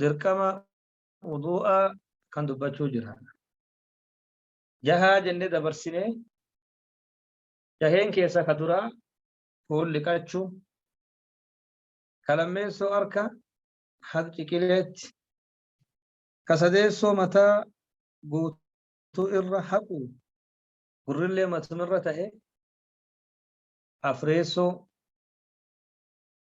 dirqama wudu'aa kan dubbachuu jira. Jahaa jennee dabarsinee jaheen keessa ka duraa fuul liqachuu ka lammeessoo harka haq ciqileetti ka sadeessoo mataa guutuu irra haqu gurrillee matumirra ta'e afreessoo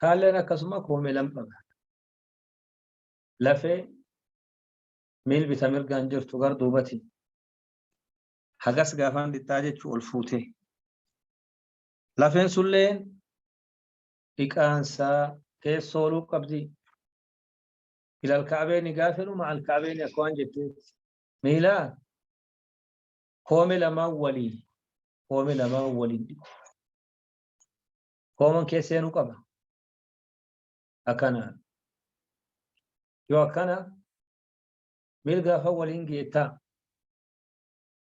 Taalleen akkasuma koomee lama qaba. Lafee miil bita mirgaan jirtu gar duubati. Hagas gaafaan dhiqxaa jechuu ol fuutee. Lafeen sulleen dhiqaansaa keessoo oluu qabdi. Ilal kaabeeni gaafa jedhu maal kaabeeni akka waan jettee miilaa koome lamaan waliin koome lamaan waliin dhiqu. kooman keessa seenuu qaba. Akkanaan. Yoo akkana mirga afaan waliin geettaa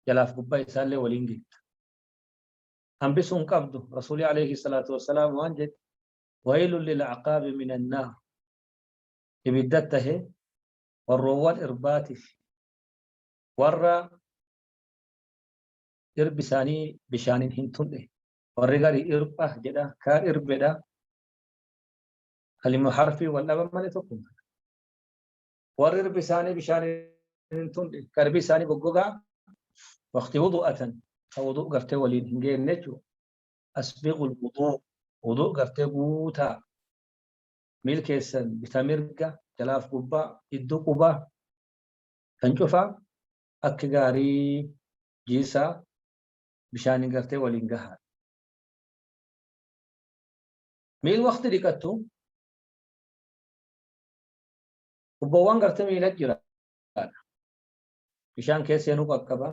jalaaf gubbaa isaallee waliin geetta. Hambisuu hin qabdu rasuulii alayhi salaatu wassalaam waan jedhe waylun lil aqaabi min annaar ibidda tahe warroowwan irbaatiif warra irbi isaanii bishaaniin hin tun'e warri gari irba jedha ka irbedha kalima harfi wal dhaban malee tokkuma warri irbi isaanii bishaan hin tunne ka irbi isaanii goggogaa waqti wudu'atan ka wudu' gartee waliin hin geenne jechuudha asbiqul wudu' wudu' gartee guutaa miil keessan bita mirga jalaaf gubbaa iddoo qubaa kan cufaa akka gaarii jiisaa bishaaniin gartee waliin gahaadha. Miil waqti dhiqattu tubboowwan gartee miila jiraadha. Bishaan keessa seenuu qaqqaba.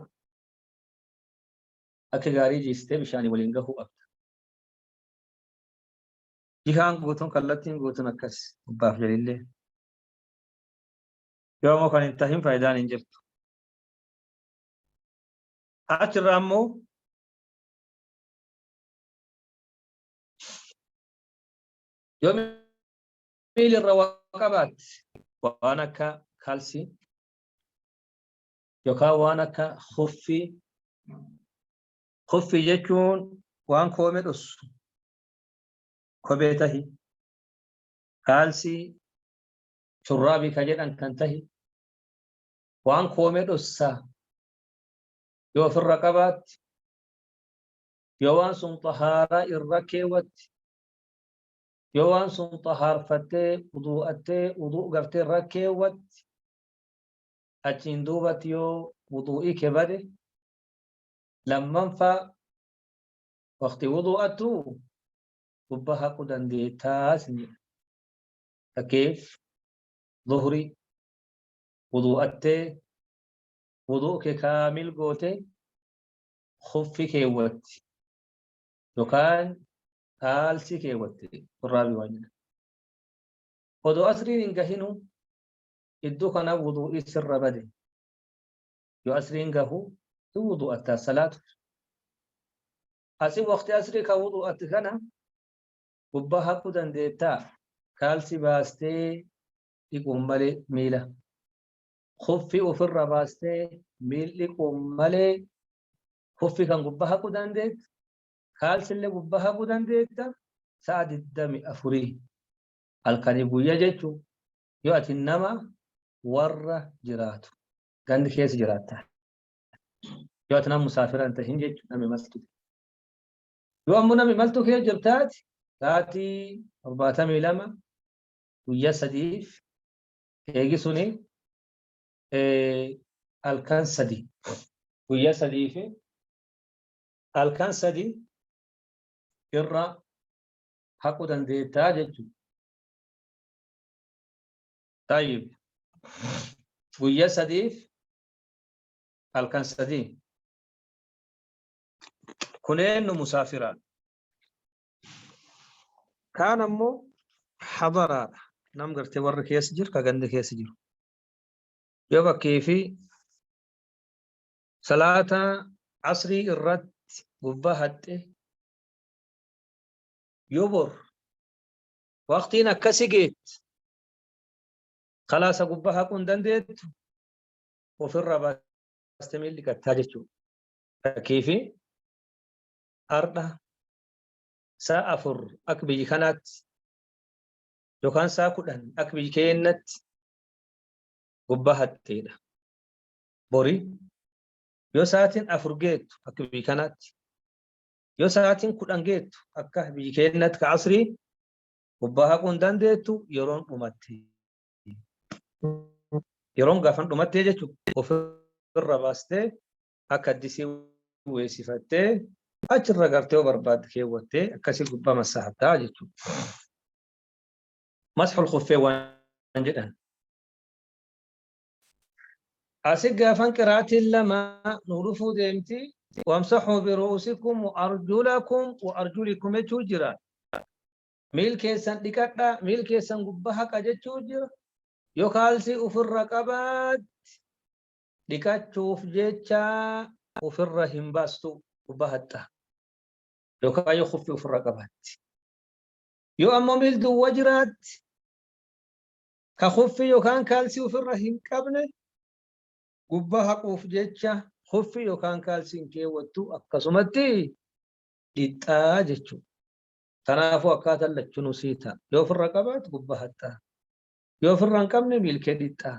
Akka gaarii jiistee bishaanii waliin gahuu qabda. Jihaan guutuun kallattiin guutuun akkas gubbaaf jalillee. Yoo ammoo kan hin tahin faayidaan hin jirtu. Achi irraa immoo yoo miila irra waa qabaatte waan akka kalsii yookaan waan akka huffii huffii jechuun waan koome dhossu kobee tahi kaalsii shurraabii ka jedhan kan tahi waan koome dhossa yoo ofirra qabaatte yoo waan sun xahaaraa irra keewwatte yoo waan sun xahaarfattee wuduu'attee wuduu gartee irra keewwatte achiin duubatti yoo wuduu'ii kee bade lammanfaa waqti wuduu'attu gubba haqu dandeettaa isin jedha fakkeef zuhrii wuduu'attee wudu'u kee kaamil goote khuffi keewwatti yookaan kaalsi keewwatte turraabi waan jedhan odoo asriin hin gahinu iddoo kana wudu'ii sirra bade yoo asriin gahu hin wudu'atta salaatu asi waqti asrii ka wudu'atti kana gubbaa haquu dandeettaa kaalsi baastee dhiquun malee miila kuffi ofirra baastee miil dhiquun malee kuffi kan gubbaa haquu dandeetta kaalsillee gubbaa haquu dandeetta sa'a 24 halkanii guyyaa jechuun yoo ati nama warra jiraatu gandi keessa jiraatta yoo ati nama musaafira hin tahin jechuun nama imaltu yoo ammoo nama imaltu kee jirtaati sa'aatii 72 guyyaa sadiif eegi suni halkan sadi guyya sadii fi halkan sadi irra haqu dandeettaa jechuudha. Tayyib guyya sadiif halkan sadii kuneen nu musaafiraan Kaan ammoo hadaraadha. Nam gartee warri keessa jiru ka ganda keessa jiru. Yoo fakkii fi salaata asrii irratti gubbaa haxxe yoo bor waqtiin akkasi geetti kalaasa gubbaa haquu hin dandeettu ofirraa baastee miilli gattaa jechuudha. Fakkii fi har'a saa afur akka biyyi kanaatti yookaan saa kudhan akka biyyi keennatti gubbaa hatteedha. Bori yoo sa'aatiin afur geettu akka biyyi kanaatti yoo sa'aatiin kudhan geettu akka biyyi keennatti ka asrii gubbaa haquu hin dandeettu yeroon dhumatte. Yeroon gaafan dhumattee jechuun ofirra baastee akka addisii weessifattee achirra gartee yoo barbaadde keewwattee akkasii gubbaa massaahattaa jechuudha. Masxul kuffee waan jedhan. Asi gaafan qiraatiin lama nu dhufuu deemti. Wamsaxuu biruusikum wa arjulakum wa arjulikum jechuu jira. Miil keessan dhiqadha, miil keessan gubbaa haqa jechuu jira. Yoo kaalsii ofirra qabaatti dhiqachuuf jecha ofirra hin baastu bahatta yookaan yoo kuffi ofirra qabaatti yoo ammoo miil duwwa jiraatti ka kuffi yookaan kaalsii ofirra hin qabne gubbaa haquuf jecha kuffi yookaan kaalsiin keewwattu akkasumatti dhixxaa jechuudha. Kanaafuu akkaataan lachuu nusii ta'a. Yoo ofirra qabaatu gubbaa haxxaa. Yoo ofirra hin qabne miilkee dhixxaa.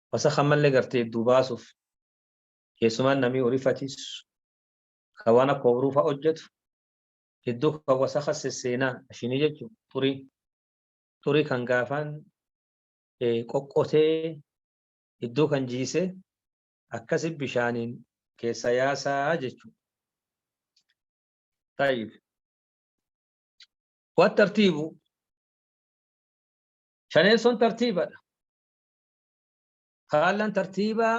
Wasakh ammalle gartee idduu baasuuf keessumaa namii horii fatiisu ka waan akka obruu fa'a hojjetu idduu kan wasakha sesseenaa ashinii jechuun xurii xurii kan gaafaan qoqqotee idduu kan jiisee akkasi bishaaniin keessa yaasaa jechuudha. Taayib. Waan tartiibu shaneessoon tartiibadha. Faallaan tartiibaa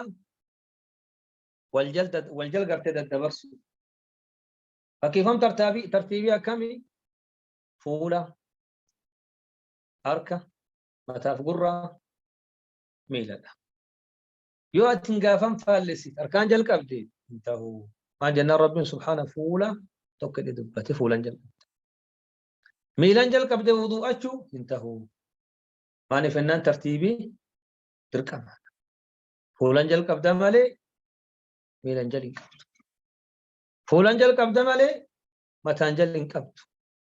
waljal gartee daddabarsu. Fakkiifam tartiibii akkamii? Fuula, harka, mataaf gurraa, miiladha. Yoo ati hin gaafan faallessit harkaan jalqabde hin ta'u. Maal jennaan Rabbiin subhaana fuula tokko jedhee dubbate fuulan jalqabde. Miilan jalqabde wuduu'achuu hin ta'u. Maaliif ennaan tartiibii dirqama. Fuulan jalqabda malee miilan jal hin qabdu. Fuulan jalqabda malee mataan jal hin qabdu.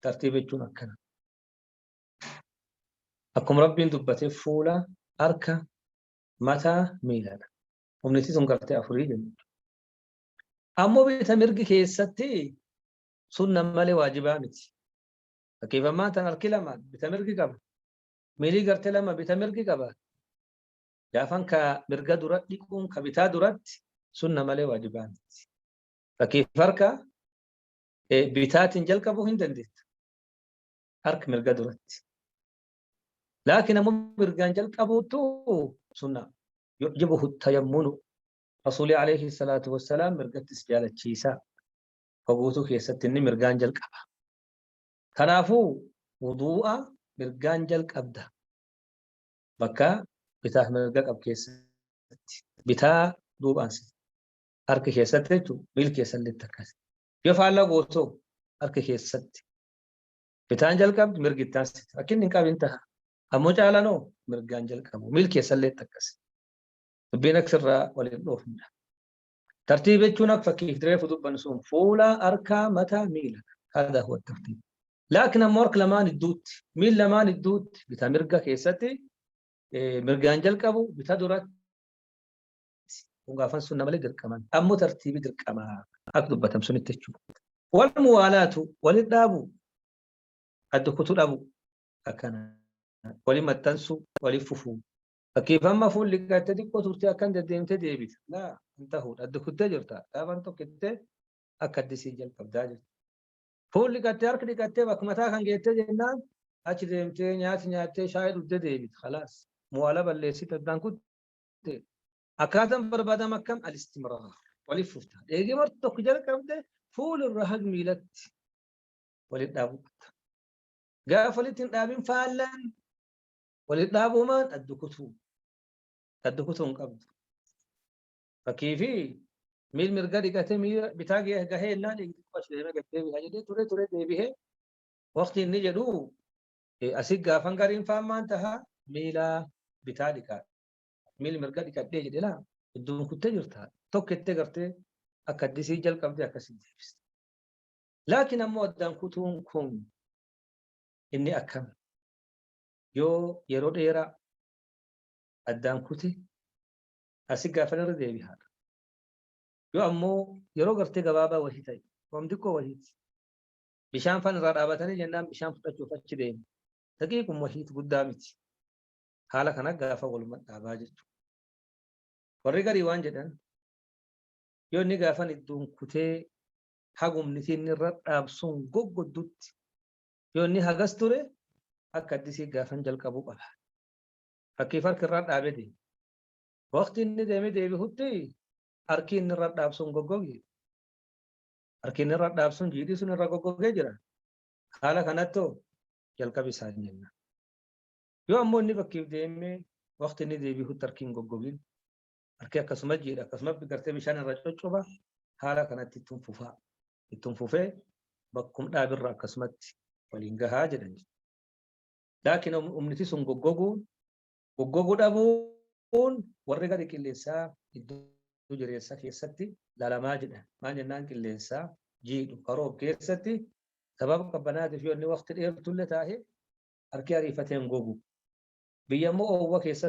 Tartiiba jechuun akkana. Akkuma rabbiin dubbate fuula harka mataa miiladha. Humniti sun gartee afurii jenna. Ammoo bita mirgi keessatti sunna malee waajibaa miti. Fakkiif ammaa tan harki lamaan bita mirgi qaba. Miilii garte lama bita mirgi qaba. Gaafan ka mirga dura dhiquun ka bitaa duratti sunna malee waajibaa miti. Fakkiif harka bitaatiin jalqabuu hin dandeettu. Harki mirga duratti. Laakiin ammoo mirgaan jalqabuutu sunna. Yujibuhu tayammunu. Rasuulii alayhi salaatu wassalaam mirgattis jaalachiisaa. Hoguutuu keessatti inni mirgaan jalqaba. Kanaafuu wuduu'a mirgaan jalqabda. Bakka bitaaf mirga qab keessatti. Bitaa duuba aansita. Harka keessatti jechuun miil keessalleetti akkasi. Yoo faallaa gootoo harka keessatti. Bitaan jalqabdi mirgi itti aansita. Akka inni hin qabin taha. Ammoo caalanoo mirgaan jalqabu. Miil keessalleetti akkasi. Dubbiin akka sirraa waliin dhoofnudha. Tartiiba jechuun akka fakkiif reefu dubbannu sun fuula, harka, mata, miila. Hada huwa tartiib. Laakiin ammoo harka lamaan idduutti, miil lamaan idduutti, bita mirga keessatti mirgaan jalqabu bita duratti gaafan sunna malee dirqaman. Ammoo tartiibi dirqama akka dubbatamu sunitti jechuudha. Wal muwaalaatu walitti dhaabu adda kutu dhabu akkana waliin maxxansu waliin fufu Fakkeeffamma fuulli qabattee xiqqoo turtee akka hin deddeemtee deebita. Laa hin ta'uudha. Adda kuttee jirta. Dhaabaan tokkittee akka addisii jalqabdaa jirta. Fuulli qabattee harki dhiqattee bakka mataa kan geettee jennaan achi deemtee nyaata nyaattee shaayii dhugdee deebita. Kalaas mu'aala balleessite addaan kutte. Akkaataan barbaadamu akkam alistimraa waliif fufta. Eegee marti tokko jalqabde fuulirra hag miilatti waliin dhaabuu qabda. Gaafa walitti hin dhaabin faallaan Walitti dhaabumaan adda kutuu. Adda kutuu hin qabdu. Fakkii fi miil mirga dhiqatee miila bitaa gahee innaa dhiqatu deemee gad deebi'aa jedhee ture ture deebi'ee waqtii inni jedhu asii gaafan gariin faan maan taha miila bitaa dhiqaa. Miil mirga dhiqadhee jedhe laa iddoon kuttee jirta tokko ittee gartee akka addisii jalqabdee akkasii deebiste. Laakiin ammoo addaan kutuun kun inni akkam yoo yeroo dheeraa addaan kute asi gaafan irra deebi'aadha. Yoo ammoo yeroo gartee gabaabaa wahii ta'e waan xiqqoo wahiiti. Bishaan faan irraa dhaabatanii jennaan bishaan fudhachuuf achi deemu. Daqiiquma wahiiti guddaa miti. Haala kana gaafa walumaa dhaabaa jechuudha. Warri garii waan jedhan yoo inni gaafan idduun kutee hagumni inni irra dhaabsuun goggoddutti Yoo inni hagas ture akka addisii gaafan jalqabuu qaba. Fakkii farki irraa dhaabee deema. Waqtii inni deemee deebi'utti harki inni irra dhaabsuun goggoge. Harki inni irra dhaabsuun jiidhii sun irra goggogee jira. Haala kanattu jalqabi isaa hin jenna. Yoo ammoo inni fakkiif deemee waqtii inni deebi'utti harki hin goggogin harki akkasuma jiidha akkasuma gartee bishaan irra coccoba haala kanatti ittiin fufaa ittiin fufee bakkum dhaabirra akkasumatti waliin gahaa jedhan laakiin humniti sun goggoguun goggoguu dhabuun warri gadi qilleensaa iddoo jireessaa keessatti lalamaa jedhan maal jennaan qilleensaa jiidhu karoof keessatti sababa qabbanaatiif yoo inni waqti dheertullee taa'e harki ariifateen gogu biyya immoo oowwa keessa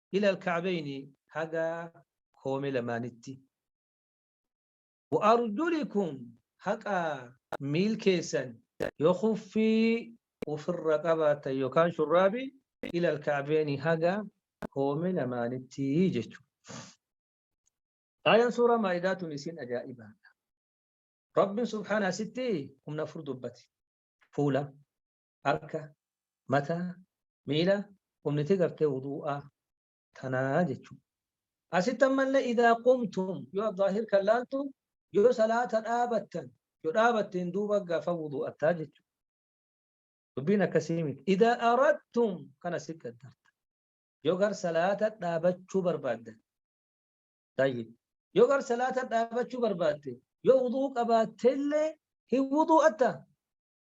ila alka'abayni haga koome lamaanitti wa arjulikum haqa miil keessan yoo kuffii ufirra qabaatan yookaan shurraabi ila alka'abayni haga koome lamaanitti jechuudha. Aayaan suuraa maa'idaa tun isiin ajaa'ibaadha. Rabbiin subhaana asitti humna afur dubbate. Fuula, harka, mata, miila, qumniti gartee wudu'aa tanaa jechuu. Asitti ammallee idaa qumtum yoo addaahir kan laaltu yoo salaata dhaabattan yoo dhaabatteen duuba gaafa wudu'attaa jechuu. Dubbiin akkasii miti. Idaa aradtum kana si qaddarta. Yoo gar salaata dhaabachuu barbaaddan. Tayyib. Yoo gar salaata dhaabachuu barbaadde yoo wuduu qabaattellee hin wudu'atta.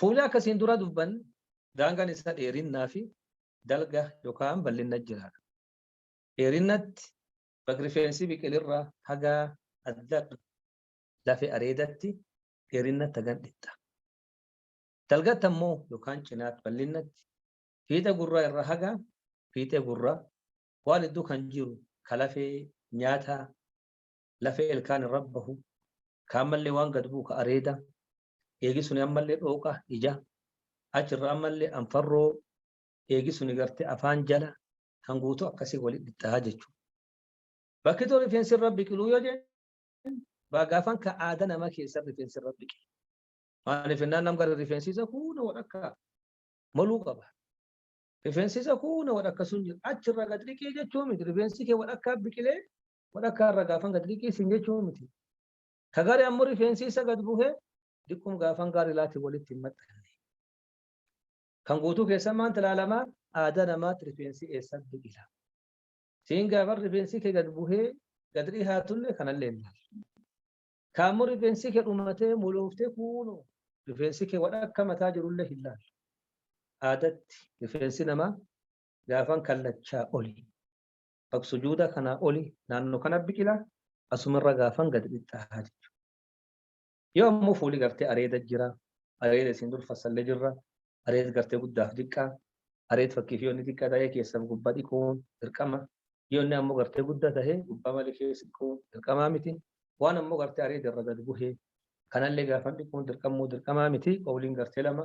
Fuula akka siin dura dubban daangaan isaa dheerinnaa fi dalga yookaan bal'inna jira. Dheerinnatti bakki rifeensi biqilirraa haga adda lafe areedatti dheerinnatti hagan dhitta. Dalgatti ammoo yookaan cinaatti bal'innatti fiixa gurraa irraa haga fiixee gurraa waan iddoo kan jiru kalafee nyaata lafee ilkaan irra bahu ka ammallee waan gad bu'u ka areeda eegi suni ammallee dhooqa ija achirra ammallee anfarroo eegi suni garte afaan jala kan guutuu akkasii walitti dhittaa jechuudha. Bakki too rifeensi irra biqiluu yoo jennu baagaafan ka aada nama keessa rifeensi irra biqilu. Maaliif innaan nam gara rifeensi isa kuuna wadhakka maluu qaba. Rifeensi isa kuuna wadhakka sun jira achirra gad dhiqii jechuu miti rifeensi kee wadhakkaa biqilee walakkaa irra gaafan gad liqqiisin jechuu miti. Ka gari ammoo rifeensi isa gad buhe diqqum gaafan gaari laati walitti hin maxxanne. Kan guutuu keessan maanta ilaalama aadaa namaatti rifeensi eessa biqila. Siin gaafan rifeensi kee gad buhee gad dhihaatulle kanallee hin laalu. Ka ammoo rifeensi kee dhumatee molooftee kuunu rifeensi kee walakka mataa jirullee hin laalu. Aadatti rifeensi namaa gaafan kallachaa oli. bak sujuudaa kanaa oli naannoo kana biqila asumarra gaafan gad dhixxaa jechuudha. Yoo ammoo fuuli gartee areeda jira, areeda isin dur fassalle jirra, areed gartee guddaaf diqqaa, areed fakkiif yoo inni diqqa ta'ee keessaf gubba dhiquun dirqama, yoo inni ammoo gartee gudda ta'ee gubba malee keessa dhiquun dirqamaa miti, waan ammoo gartee areeda irra gad buhe kanallee gaafan dhiquun dirqamuu dirqamaa miti qawliin gartee lama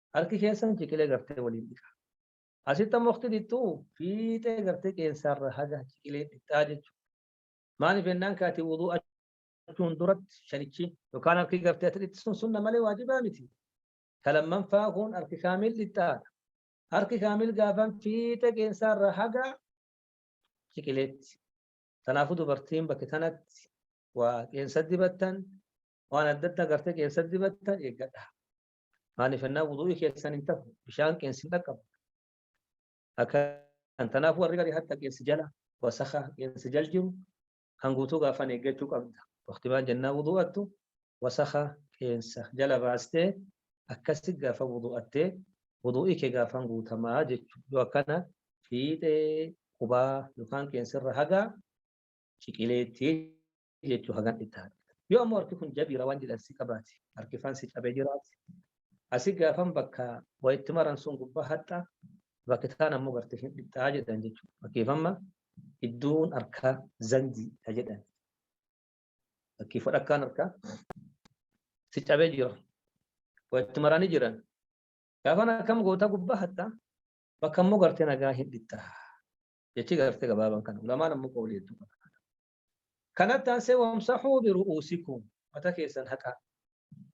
Harki keessan ciqilee gartee waliin dhiqaa. Asitti ammoo waqti dhiqxu fiixee gartee qeensaarra haga ciqilee dhiqxaa jechuudha. Maaliif jennaan kaati wuduu achuun duratti shanichi yookaan harki gartee ati dhiqxu sun sunna malee waajibaa miti. Ka lammanfaa kun harki kaamil dhiqxaadha. Harki kaamil gaafan fiixee qeensaarra haga ciqileetti. Kanaafuu dubartiin bakka kanatti waa qeensa dibattan waan adda addaa gartee qeensa dibattan eeggadha. maaliif ennaa wuduu'ii keessan hin tahu bishaan qeensi hin dhaqqabu akkan tanaafuu warri garii hatta qeensi jala wasaka qeensi jal jiru kan guutuu gaafan eeggachuu qabda waqti maal jennaa wuduu'attu wasaka qeensa jala baastee akkasi gaafa wuduu'attee wuduu'ii kee gaafan guutamaa jechuudha yoo akkana fiixee qubaa yookaan qeensirra hagaa ciqileetti jechuu hagan itti haadha. Yoo ammoo harki kun jabiira waan jedhan si qabaate harki faan si cabee jiraate asi gaafan bakka wayitti maran sun gubbaa haxxaa bakki taan ammoo garte hin dhixxaa jedhan jechuudha. Fakkeeffamma iddoon harkaa zandii dha jedhan. Fakkii fudhakkaan harkaa si cabee jira. Wayitti maranii jiran. Gaafan akkam goota gubbaa haxxaa bakka ammoo garte nagaa hin dhixxaa. Jechi garte gabaabaan kana. Ulamaan ammoo qoolii hedduu qaba. Kanatti aansee wamsahuu biru'uusikum mata keessan haqaa.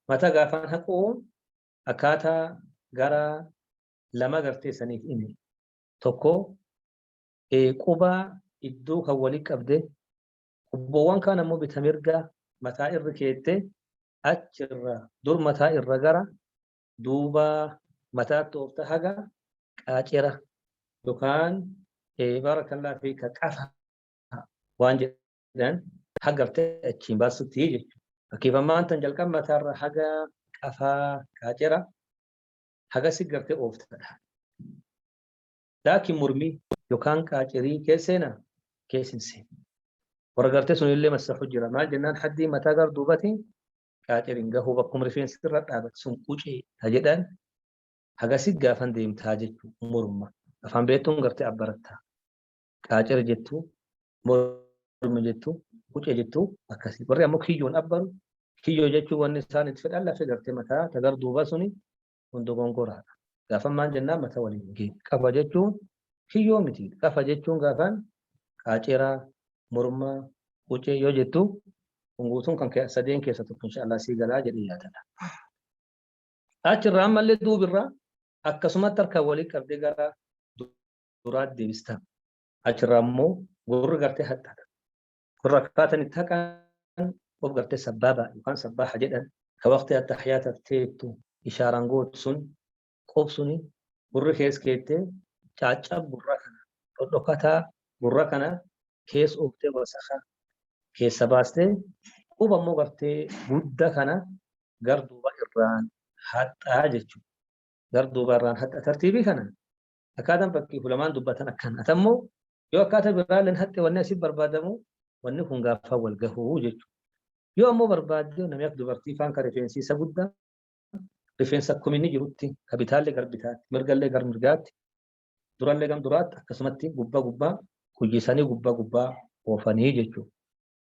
Mata gaafaan haquun akkaataa gara lama gartee saniif ime. Tokko qubaa iddoo kan waliin qabde qubboowwan kaan ammoo bita mirga mataa irra keette achirra dur mataa irra gara duuba mataa toofta haga qaacera yookaan barakallah fi ka qafa waan jedhan hagartee achiin baasutti jechuudha. Fakkeeffamaan tan jalqaba mataarra haga qafaa kaacera hagasi gartee ooftadha. Laakiin mormii yookaan qaacerii keesseena keessinse. Warra gartee sun illee masahu jira. Maal jennaan haddii mataa gar duubati qaaceriin gahuu bakkuma rifeensi irra dhaabatu sun qucee ta jedhan hagasi gaafan deemtaa jechuudha morma. Afaan beektuun gartee abbarattaa. qaacira jettu, morma jettu, qucee jettu akkasii. Warri ammoo kiyyoon abbaru kiyyoo jechuun wanni isaan itti fedhan lafee gartee mataa tagar duuba suni kun dogongoraadha. Gaafan maal jennaan mataa waliin hin geenye. Qafa jechuun kiyyoo miti. Qafa jechuun gaafan qaaciraa, mormaa, qucee yoo jettu kun guutuun kan kee sadeen keessa tokko inshaallah sii galaa jedhee yaadadha. Achirraa ammallee duubirraa akkasumatti harka walii qabdee gara duraatti deebistan. Achirraa immoo gurri gartee haxxata. Gurra akkaataan itti haqan of gartee sabbaaba yookaan sabbaaha jedhan ka waqtii attahiyaata teettu ishaaraan gootu sun qof suni gurri kees keettee caaccab gurra kana dhodhokataa gurra kana kees ooftee wasaka keessa baastee quba immoo gartee gudda kana gar duuba irraan haxxaa jechuudha. Gar duuba irraan haxxa tartiibii kana akkaataan fakkii fulamaan dubbatan akkan atammoo yoo akkaataa biraalleen haxxe wanni asii barbaadamu wanni kun gaafa wal gahuu jechuudha. Yoo ammoo barbaadde namni akka dubartii faan kan rifeensi isa guddaa rifeensa akkuma inni jirutti ka bitaallee gara bitaatti mirgallee gara mirgaatti durallee gara duraatti akkasumatti gubbaa gubbaa hojjisanii gubbaa gubbaa oofanii jechuudha.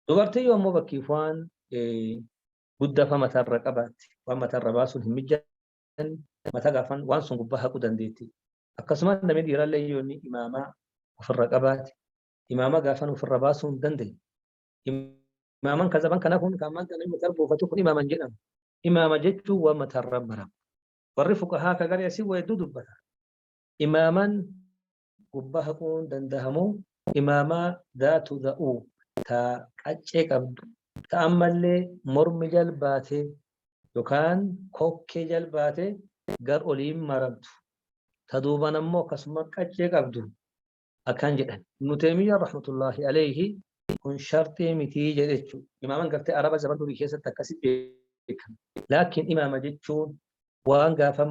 Dubartii yoo ammoo bakkiif waan guddaa fa mataarra qabaatti waan mataarra baasuun hin mijaatu. san mataa gaafan waan sun gubbaa haquu dandeetti. Akkasumas namni dhiirallee yoo inni imaamaa ofirra qabaate imaamaa gaafan ofirra baasuu hin dandeenye. Imaaman kan zaban kanaa kun kan maanta namni mataa buufatu kun imaaman jedhama. Imaama jechuun waan mataarra maramu. Warri fuqahaa ka garee asii waa hedduu dubbata. Imaaman gubbaa haquun dandahamu imaamaa dhaatu dha'u ta qaccee qabdu ta ammallee mormi jal baate yokaan kokkee jal baate gar oliin maramtu ta duuban ammoo akkasuma qaccee qabdu akkan jedhan ibnu teemiyyaa rahmatullaahi alayhi kun sharxii mitii jedhechu imaaman gartee araba zaman durii keessatti akkasi beekama laakiin imaama jechuun waan gaafan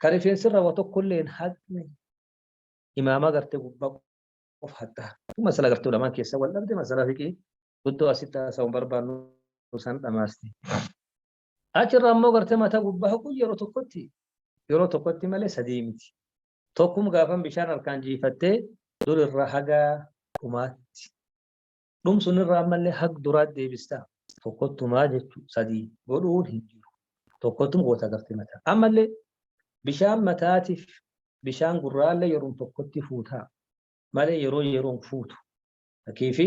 Ka rifeensirra wa tokkollee hin haqne imaama garte gubba qof hatta. Kun masala garte ulamaan keessa wal dhabde masala fiqii guddoo asitti haasa'uun barbaannu san dhamaaste. Achirra ammoo garte mata gubba haquu yeroo tokkotti yeroo tokkotti malee sadii miti. Tokkum gaafan bishaan harkaan jiifattee dur irra haga dhumaatti. Dhum sun irraa ammallee hag duraat deebistaa. Tokkottumaa jechu sadii godhuun hin jiru. Tokkottum goota gartee mataa. Ammallee bishaan mataatif bishaan gurraallee yeroon tokkotti fuutaa malee yeroo yeroon fuutu. Fakiifi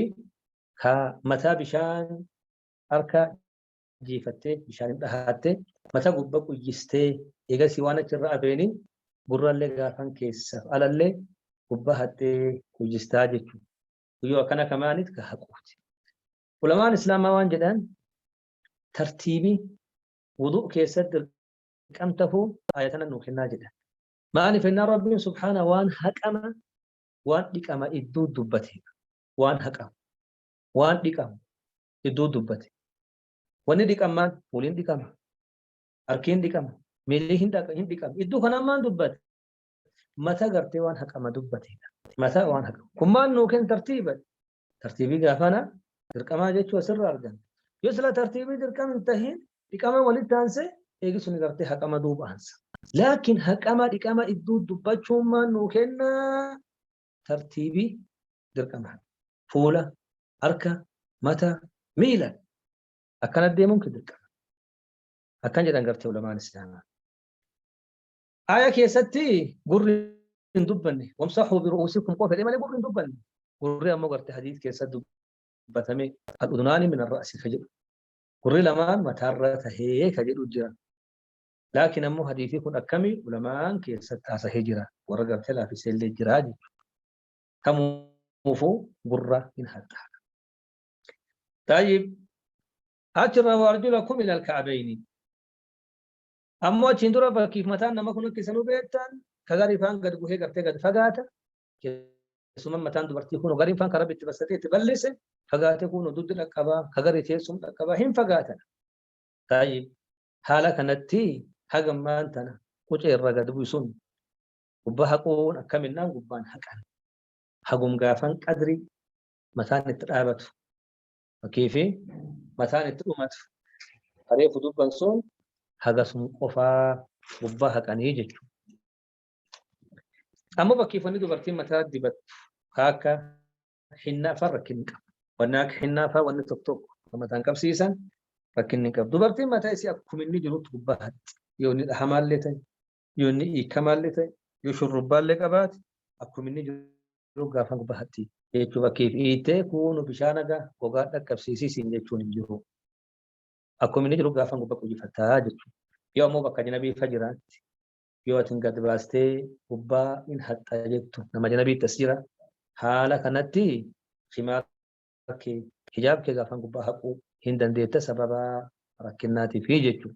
ka mataa bishaan harka jiifattee bishaan hin dhahaattee mata gubba quyyistee eegasii waan achi irra abeeni gurrallee gaafan keessaaf alallee gubba haxxee quyyistaa jechuudha. guyyoo akkana kamaanit ka haquuti ulamaan islaamaa waan jedhan tartiibii wuduu keessatti dirqam tahuu ayatana nuu kennaa jedhan maaliif ennaa rabbiin subhaana waan haqama waan dhiqama idduu dubbate waan haqama waan dhiqama idduu dubbate wanni dhiqamaan waliin dhiqama harkiin dhiqama miilli hin dhiqama idduu kanaan maan dubbate mata gartee waan haqama dubbateedha. Mata waan haqama. Kun maal nuu kenna tartiiba? Tartiibii gaafana dirqamaa jechuu asirra argama. Yoo sila tartiibii dirqama hin tahin dhiqama walitti aansee eegi sun gartee haqama duuba aansa. Laakiin haqama dhiqama idduu dubbachuun maal nuu kenna tartiibii dirqama. Fuula, harka, mata, miila akkana deemuun dirqama. Akkan jedhan gartee ulamaan islaamaa. Aaya keessatti gurri hin dubbanne. Wamsahuu biru'uusikum qofa jedhee malee gurri hin dubbanne. Gurri ammoo garte hadiis keessa dubbatame al-udunaani min ar-ra'si ka jedhu. Gurri lamaan mataarra tahee ka jedhu jira. Laakiin ammoo hadiisii kun akkami ulamaan keessatti haasahee jira. Warra garte laafisee illee jira jechuudha. Kamuufuu gurra hin haxxaa. Taayib achirra waarjula kum ilal ka'abeeyni. Ammoo achiin dura fakkiif mataan nama kun akka isanuu beektan ka garii faan gad buhee gartee gad fagaata. Keessumaa mataan dubartii kun gariin faan karaa itti bassatee itti bal'ise fagaatee kun duddi dhaqqabaa ka garii teessum dhaqqabaa hin fagaatan. Taayib haala kanatti hagammaan tana qucee irra gad buusuun gubbaa haquun akkaminnaan gubbaan haqan. Hagum gaafan qadrii mataan itti dhaabatu Fakkiifi mataan itti dhumatu. Ka reefu dubban sun hagasum qofaa gubbaa haqanii jechuudha. Ammoo bakkeeffanni dubartiin mataa dibattu ka akka hinnaa fa'aa rakkinni qaba. Wanni akka hinnaa fa'aa wanni tokko tokko kan mataan qabsiisan rakkinni hin qabu. Dubartiin mataa isii akkuma inni jirutti gubbaa haqxi. Yoo inni dhahamaallee ta'e, yoo inni hiikamaallee ta'e yoo shurrubbaallee qabaate akkuma inni jiru gaafan bahatti jechuu fakkiif hiitee kuunu bishaan hagaa gogaa dhaqqabsiisii siin jechuun hin jiru. Akkuma inni jiru gaafan gubbaa qujifataa jechuudha. Yoo ammoo bakka janabii fa jiraatti yoo atin gad baastee gubbaa hin haxxa jettu nama janabii tas jira. Haala kanatti himaa kee hijaab kee gaafan gubbaa haquu hin dandeetta sababa rakkinnaatiif jechuudha.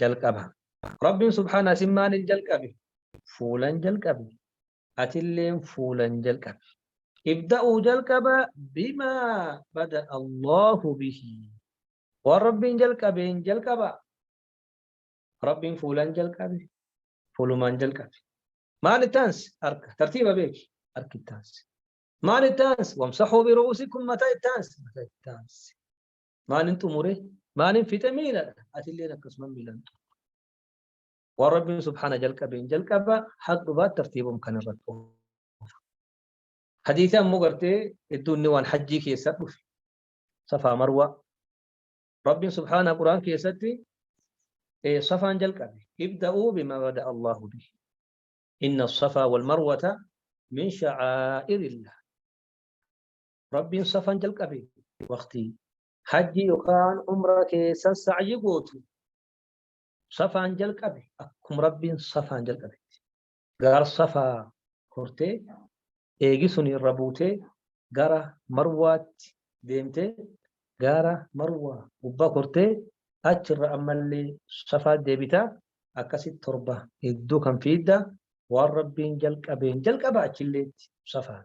jalqaba. Rabbiin subhaana isin maaliin jalqabe? Fuulan jalqabe. Atilleen fuulan jalqabe. Ibda'uu jalqaba bimaa bada Allahu bihi. Waan Rabbiin jalqabeen jalqaba. Rabbiin fuulan jalqabe. Fuulumaan jalqabe. Maal itti aansi? Harka. Tartiiba beeki. Harki itti aansi. Maal itti aansi? Wamsaxuu biru'uusikum mataa itti aansi. Mataa itti aansi. maalin xumure maalin fixe miiladha atilleen akkasuma miilan waan rabbiin subhaana jalqabeen jalqaba haq dhubaat tartiibum kan irratti hadiisa ammoo gartee hedduun ni waan hajjii keessa dhufe safaa marwaa rabbiin subhaana quraan keessatti safaan jalqabe ibda'uu bima bada allahu bihi inna safaa wal marwata min sha'aa'irillah Rabbiin safaan jalqabe waqtii hajji yookaan umra keessa sa'yi gootu safaan jalqabe akkuma rabbiin safaan jalqabetti gaar safaa kortee eegisun irra buutee gara marwaatti deemtee gaara marwaa gubbaa kortee achirra ammallee safaa deebitaa akkasitti torba hedduu kan fiidda waan rabbiin jalqabeen jalqaba achilleetti safaan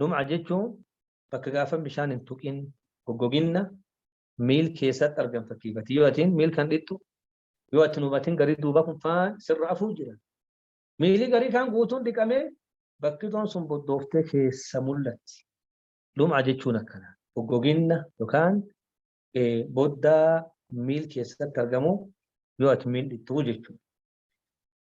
Lum'a jechuun bakka gaafa bishaan hin tuqin goggoginna miil keessatti argan fakkiifati. Yoo atiin miil kan dhittu yoo ati hubatin garii duuba kun faan sirra afuu jira. Miilii garii kaan guutuun dhiqamee bakkitoon sun boddooftee keessa mul'atti. Lum'a jechuun akkana. Goggoginna yookaan boddaa miil keessatti argamu yoo ati miil dhittuu jechuudha.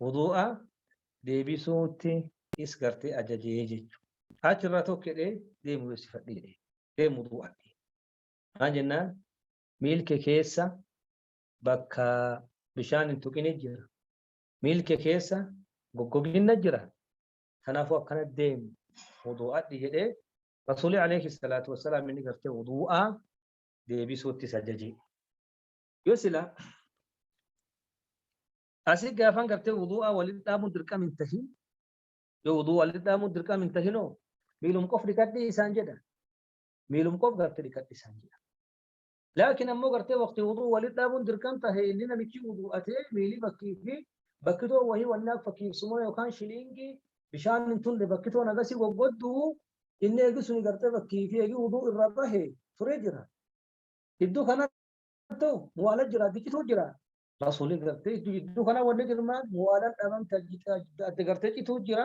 Wuduu'a deebisuutti is gartee ajajee jechuudha. Achirraa tokko jedhee deemu beeksifadhe jedhee deemu wuduu'atti. Maal jennaan miilke keessa bakka bishaan hin tuqini jira. Miilke keessa goggoginna jira. Kanaafuu akkana deemu wuduu'adhi jedhee Rasuulii alayhi salaatu wassalaam inni gartee wuduu'a deebisuutti isa jajee. Yoo sila Asii gaafan gartee wuduu'aa walitti dhaabuun dirqam hin tahin yoo wuduu'aa walitti dhaabuun dirqam hin tahinoo miilum qof dhiqadhii isaan jedha. Miilum qof gartee dhiqadhii isaan jedha. Laakiin ammoo gartee waqtii wuduu'aa walitti dhaabuun dirqam tahe inni namichi wuduu'atee miilii bakkii fi bakkitoo wahii wannaaf fakkiifsumoo yookaan shiliingii bishaan hin tulle bakkitoon agasii goggodduu inni eegi suni gartee bakkii fi eegi wuduu irra bahe turee jira. Gidduu kanatti muwaala jira, biqituu jira. Rasuulii gartee iddoo jidduu kana wanni jirmaan waalan dhaban adda gartee cituu jira.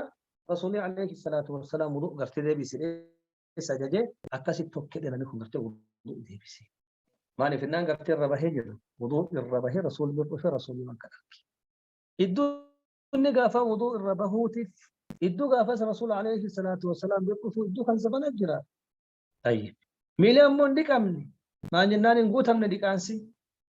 Rasuulii alayhi salaatu wassalaam wuduu gartee deebisee sajaje akkasi tokkee dhelanii kun gartee wuduu deebisee. Maaliif innaan gartee irra bahee jedhu wuduu irra bahee rasuulii bira dhufee rasuulii waan kana arge. Iddoo inni gaafa wuduu irra bahuutiif iddoo gaafas rasuula alayhi salaatu wassalaam bira dhufuu iddoo kan zabana jira. Tayyib. Miilii ammoo hin dhiqamne. Maan jennaan hin guutamne dhiqaansi.